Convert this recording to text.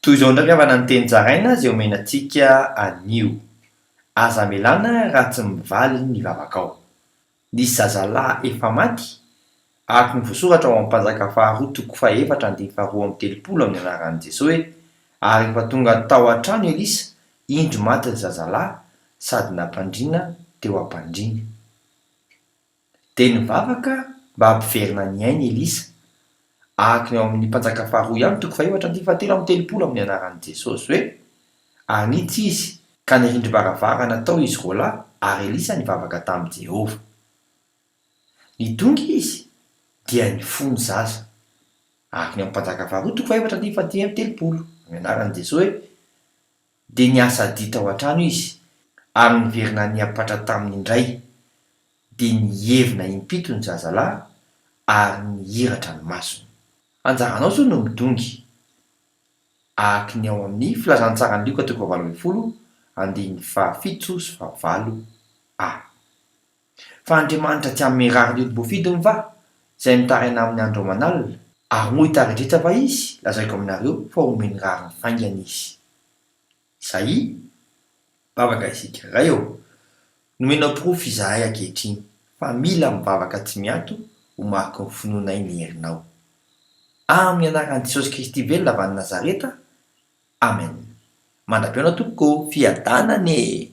Toy izao indray havana ny teny zaraina izay omena antsika anio, Aza amelana raha tsy mivaly ny vavakao. Nisy zazalahy efa maty, araka ny voasoratra ao amin'ny Mpanjaka faharoa toko fahefatra andininy faharoa amby telopolo amin'ny anaran'i Jesoa hoe, Ary rehefa tonga tao an-trano Elisa, indro maty ry zazalahy, sady nampandriana teo am-pandriany. Dia nivavaka mba hampiverina ny ainy i Elisa. Araka ny ao amin'ny Mpanjaka Faharoa ihany, toko fahaefatra andininy fahatelo amby telopolo amin'ny anaran'i Jesosy hoe, Ary niditra izy, ka ny rindrim-baravarana tao izy roa lahy, ary Elisa nivavaka tamin'i Jehovah. Nidongy izy, dia nifoha ny zaza. Araka ny ao amin'ny Mpanjaka Faharoa, toko fahaefatra andininy fahatelo amby telopolo amin'ny anaran'i Jesosy hoe, Dia niasa adia tao an-trano izy, ary niverina nihampatra taminy indray. Dia nievina impito ny zazalahy, ary nihiratra ny masony. Anjaranao izao no midongy, araka ny ao amin'ny Filazantsaran'i Lioka toko fahavalo ambin'ny folo, andininy fahafito sy fahavalo, a. Fa Andriamanitra tsy hanome rariny ody voafidiny va, izay mitaraina aminy andro aman'alina? Ary moa hitari-dresaka va Izy? Lazaiko aminareo fa homeny rariny faingana Izy. Isaia, Mivavaka isika. Ray ô, nomenao porofo izahay ankehitriny fa mila mivavaka tsy miato ho mariky ny finoanay ny herinao. Amin'ny anaran'i Jesosy Kristy velona avy any Nazareta, Amen. Mandra-pihaona tompoko ô! Fiadanana e!